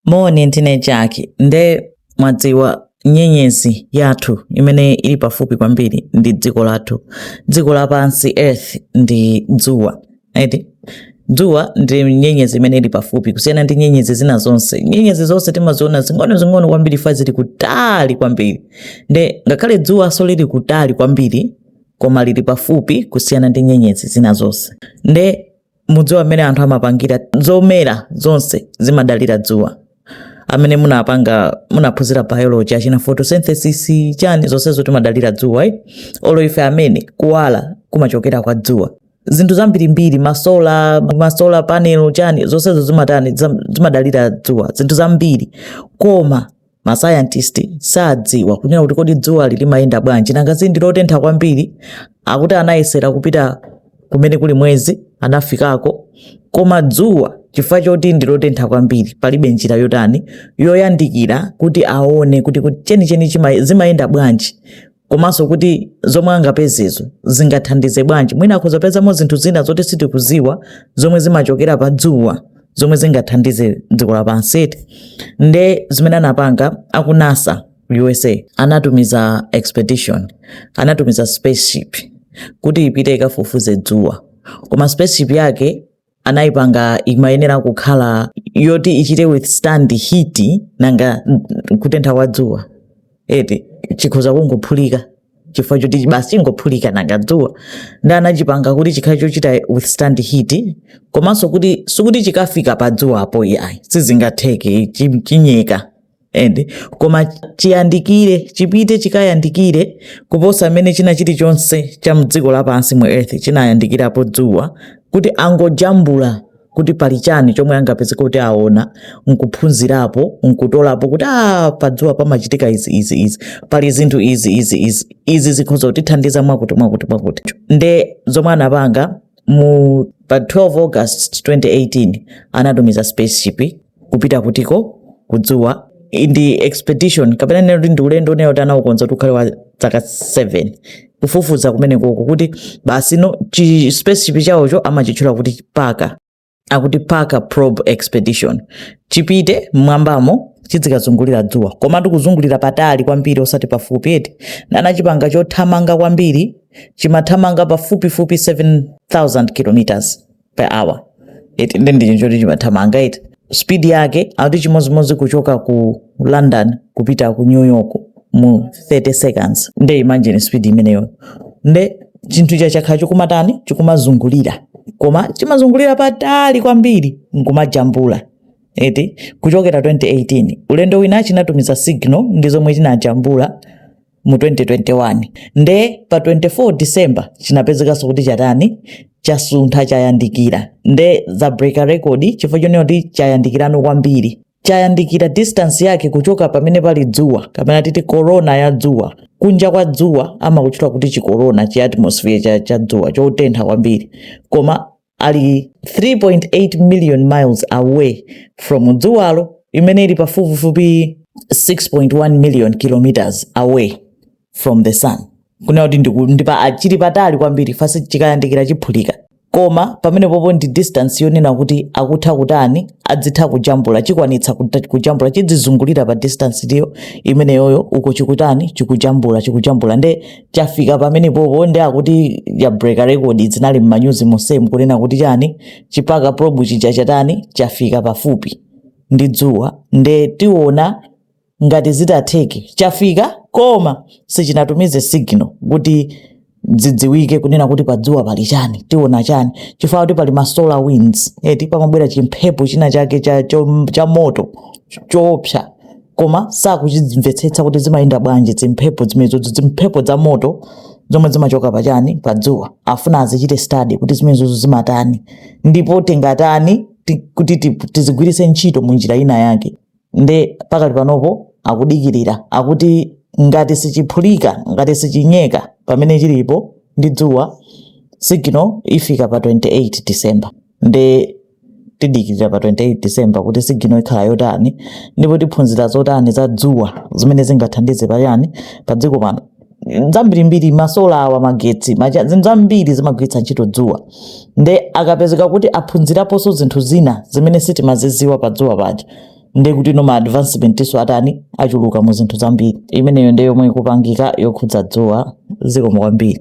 Moni, ndine Jack. Nde mwadziwa nyenyezi yathu imene ili pafupi kwambiri ndi dziko lathu, dziko lapansi earth ndi dzuwa eti dzuwa ndi nyenyezi imene ili pafupi kusiyana ndi nyenyezi zina zonse. Nyenyezi zonse timaziona zing'ono zing'ono kwambiri fa zili kutali kwambiri, nde ngakhale dzuwanso lili kutali kwambiri koma lili pafupi kusiyana ndi nyenyezi zina zonse. Nde mudziwa mmene anthu amapangira zomera zonse zimadalira dzuwa amene munapanga munaphunzira biology achina photosynthesis chani zonsezo timadalira dzuwa eh? olo ife amene kuwala kumachokera kwa dzuwa zinthu zambirimbiri masola masola panel chani zonsezo zimatani zam- zimadalira dzuwa zinthu zambiri koma masayantisti sadziwa kunena kuti kodi dzuwali limayenda bwanji nanga zindi lotentha kwambiri akuti anayesera kupita kumene kuli mwezi anafikako koma dzuwa chifukwa choti ndi lotentha kwambiri palibe njira yotani yoyandikira kuti aone kuti chenicheni zimayenda bwanji komanso kuti zomwe angapezezo zingathandize bwanji mwina akhoza kupezamo zinthu zina zoti sitikuziwa zomwe zimachokera pa dzuwa zomwe zingathandize dziko lapansi eti nde zimene anapanga aku NASA USA anatumiza expedition anatumiza spaceship kuti ipite ikafufuze dzuwa koma spaceship yake anayipanga imayenera kukhala yoti ichite withstand heat nanga kutentha kwa dzuwa eti chikhoza kungophulika chifukwa choti basi chingophulika nanga dzuwa nde anachipanga kuti chikhale chochita withstand heat komanso kuti sikuti chikafika pa dzuwapo yayi sizingatheke chi- chinyeka ende koma chiyandikire chipite chikayandikire kuposa mmene china chilichonse cha mdziko lapansi mu earth chinayandikirapo dzuwa kuti angojambula kuti pali chani chomwe angapeze kuti aone nkuphunzirapo nkutolapo kuti a ah, padzuwa pamachitika izi izi izi pali zinthu izi izi izi izi zikhoza kutithandiza mwakuti mwakuti mwakuti nde zomwe anapanga mu pa 12 august 2018 anatumiza spaceship kupita kutiko kudzuwa ndi expedition kapena ndinene kuti ndi ulendo unayo oti anaukonza kuti ukhale wa dzaka 7 kufufuza kumenekoko kuti basi no chi spaceship chawocho amachitchula kuti Parker akuti Parker Probe expedition chipite mmwambamo chidzikazungulira dzuwa komatu kuzungulira patali kwambiri osati pafupi eti anachipanga chothamanga kwambiri chimathamanga pafupifupi 7000 kilometers per hour eti ndi ndi chonti chimathamanga eti speed yake akuti chimodzimodzi kuchoka ku london kupita ku new york mu 30 seconds nde imagine speed imeneyo nde chinthu cha chakhala chikumatani chikumazungulira koma chimazungulira patali kwambiri nkumajambula eti kuchokera 2018 ulendo wina chinatumiza signal ndi zomwe chinajambula mu 2021 nde pa 24 december chinapezekanso kuti chatani chasuntha chayandikira nde za breaka record chifukwa chonena kuti chayandikira no kwambiri chayandikira distance yake kuchoka pamene pali dzuwa kapena titi korona ya dzuwa kunja kwa dzuwa amakutchula kuti chikorona chi atmosphere cha, cha dzuwa chotentha kwambiri koma ali 3.8 million miles away from dzuwalo imene ili pafupifupi 6.1 million kilometers away from the sun kunena kuti ndiku- ndi pa- chili patali kwambiri fasi chikayandikira chiphulika koma pamenepopo ndi distance yonena kuti akutha kutani adzitha kujambula chikwanitsa kuta- kujambula chidzizungulira pa distance iyo imeneyoyo uko chikutani chikujambula chikujambula nde chafika pamenepopo ndi akuti yabreaka record zinali mmanyuzi monsemu kunena kuti chani chiparker probe chija chatani chafika pafupi ndi dzuwa nde tiona ngati zitatheke chafika koma sichinatumize signal kuti zidziwike kunena kuti padzuwa pali chani tiona chani chifukwa kuti pali masolar winds eti pamabwera chimphepo china chake cha, cha, cha moto choopsa koma sakuchimvetsetsa kuti zimayenda bwanji zimphepo zimenezo zimphepo za moto zomwe zimachoka pachani pa dzuwa afuna azichite study kuti zimenezozo zimatani ndipo tingatani ti- kuti ti- tizigwiritse ntchito mu njira ina yake nde pakali panopo akudikirira akuti ngati sichiphulika ngati sichinyeka pamene chilipo ndi dzuwa signal ifika pa 28 december nde tidikirira pa 28 December kuti sigino ikhala yotani ndipo tiphunzira zotani za dzuwa zimene zingathandize pachani pa dziko pano zambirimbiri masola awa magetsi macha- zinthu zambiri zimagwiritsa ntchito dzuwa nde akapezeka kuti aphunziraponso zinthu zina zimene sitimaziziwa pa dzuwa paja nde kuti no ma advancementinso atani achuluka mu zinthu zambiri imeneyo nde yomwe ikupangika yokhudza dzuwa zikomo kwambiri